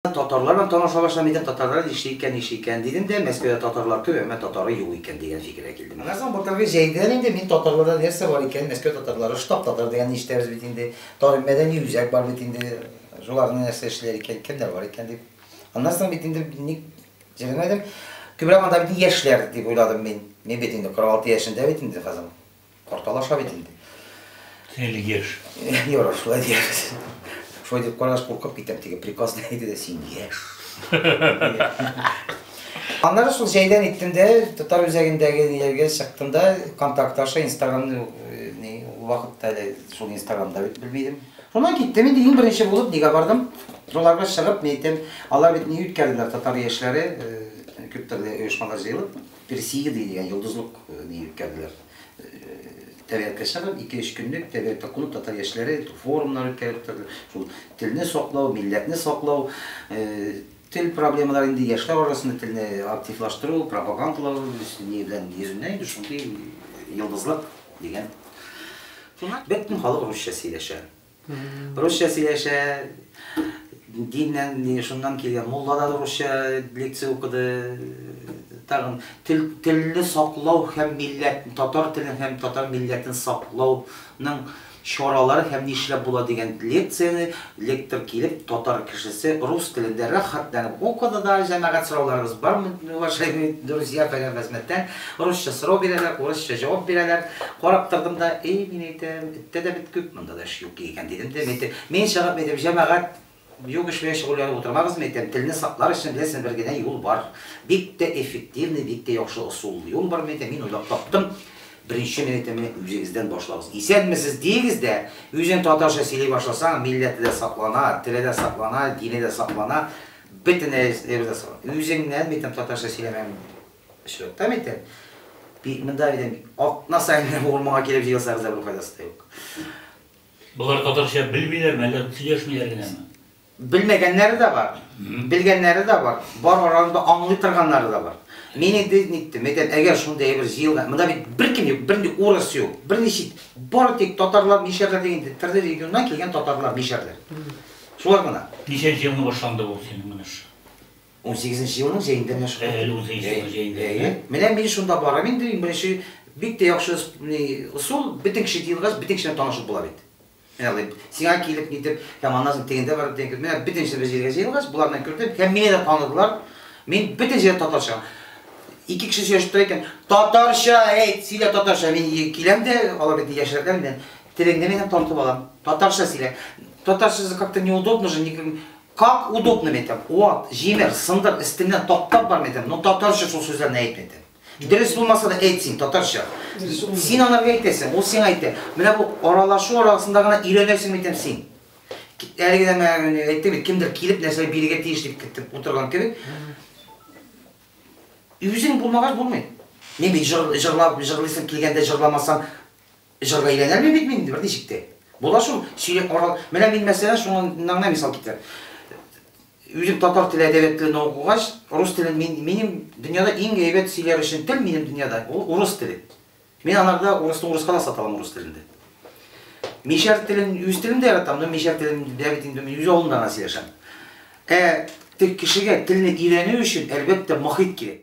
Татарлар белән таныша башлам икән, татарлар нишли икән, нишли икән, дидем дә, Мәскәүдә татарлар күп, әмма татары юк икән, дигән фикергә килдем. Аннан соң Балтабай җәйдән инде мин татарларда нәрсә бар икәнен, Мәскәү татарлары, штаб татар дигәнне ишетәбез бит инде, Тар мәдәни үзәк бар бит инде, шуларны нәрсә эшлиләр икән, кемнәр бар икән дип. Аннан соң бит инде ник җирләмәдем, күбрәк анда бит яшьләр дип уйладым мин. Мин бит инде 46 яшендә бит инде хәзер. Тарталаша бит инде. Әле яшь. Ярар, шулай диярбез. Шулай дип карагач, куркып китәм, теге приказ не әйтә дә, син яшь. Аннары шул җәйдән иттем дә, татар үзәгендәге ниләргә чыктым да, контакт аша инстаграмны э, ни вакытта әле шул инстаграмда бит белми идем. Шуннан киттем инде иң беренче булып нигә бардым? Шуларга чыгып, ни әйтәм, алар бит ни үткәрделәр татар яшьләре, э, күп төрле оешмалар җыелып. Персеида дигән йолдызлык дию үткәрделәр. Тәбигатькә чыгып, ике-өч көнлек тәбигатьтә кунып, татар яшьләре форумнар үткәреп утырды. Шул телне саклау, милләтне саклау, тел проблемалары инде яшьләр арасында телне активлаштыру, пропагандалау ни белән йөзеннән инде шундый йолдызлык дигән. Бөтен халык русча сөйләшә. Русча сөйләшә, диннән, шуннан килгән мулла да русча лекция укыды, тагын тел, телне саклау һәм милләт, татар телен һәм татар милләтен саклауның чаралары һәм нишләп була дигән лекцияне лектор килеп, татар кешесе рус телендә рәхәтләнеп укыды да, җәмәгать сорауларыбыз бармы, уважаемые друзья, фәлән хезмәттән, русча сорау бирәләр, урысча җавап бирәләр, карап тордым да, и, мин әйтәм, Үтә дә бит күп монда да эш юк икән, дидем дә, мин әйтәм, мин чыгып, әйтәм, җәмәгать юк эш белән шөгыльләнеп утырмагыз, мин әйтәм, телне саклар өчен, беләсең, бер генә юл бар, бик тә эффективный, бик тә яхшы ысуллы юл бар, мин әйтәм, мин уйлап таптым, беренче, мин әйтәм, менә үзегездән башлагыз, исәнмесез диегез дә, үзең татарча сөйли башласаң, милләте дә саклана, теле дә саклана, дине дә саклана, бөтен нәрсә дә саклана, үзеңнән, мин әйтәм, татарча сөйләмәгән. Очракта мин әйтәм, бит монда дидем, атна саен генә бу урманга килеп җыелсагыз да бер файдасы да юк. Болар татарча белмиләрме, әллә сөйләшмиләр генәме? Белмәгәннәре дә бар, белгәннәре дә бар, бар араларында аңлый торганнары да бар. Мин инде ниттем, әйтәм, әгәр шундый әйбер җыелган, монда бит беркем юк, бернинди урыс юк, берни чит, бары тик татарлар, мишәрләр дигән инде төрле регионнан килгән татарлар, мишәрләр. Шулар гына. Ничәнче елны башланды бу синең менеш? Унсигезенче елның җәендә менә шулай. Әле унсигезенче елның җәендә, әйе. Менә мин шунда барам инде, иң беренче, бик тә яхшы ни ысул, бөтен кеше җыелгач, бөтен кеше белән танышып була бит. Ягъни, сиңа килеп, нитеп, һәм аннан соң тегендә барып, тегендә, менә бөтен кеше бер җиргә җыелгач, болар белән кердем, һәм мине дә таныдылар. Мин бөтен җирдә татарча. Ике кеше сөйләшеп тора икән, Татарча әйт, сөйлә татарча. Мин киләм дә, алар бит яшьрәкләр миннән, телеңне минем танытып алам, татарча сөйлә. Татарчасы как-то неудобно же, никем, Как удобно мәйтәм, ват, җимер, сындыр, эстеңнән таптап бар мәйтәм, но татарча шул сүзләрне әйт мәйтәм. Дөрес булмаса да әйт син татарча. Син анарга әйтәсең, ул сиңа әйтә. Менә бу аралашу арасында гына өйрәнәсең мәйтәм син. Әлеге дә мәгәр әйтте бит, кемдер килеп нәрсә бирергә тиеш дип китеп утырган кебек. Үзең булмагач булмый. Мин бит җыр җырлап җырлыйсым килгәндә җырламасам, Җыр бәйләнермен бит мин берничек тә. Була шул, сөйләп карау. Менә мин мәсәлән шуңыннан гына мисал китерәм. Үзем татар теле, әдәбият телен укыгач, рус телен мин, минем дөньяда иң әйбәт сөйләр өчен тел минем дөньяда, ул урыс теле. Мин анарда урысны урыска да сата алам урыс телендә. Мишәр телен, үз телен дә яратам, но мишәр телен дә бит инде мин үз авылымда гына сөйләшәм. Ә тег кешегә телне өйрәнү өчен, әлбәттә, мохит кирәк.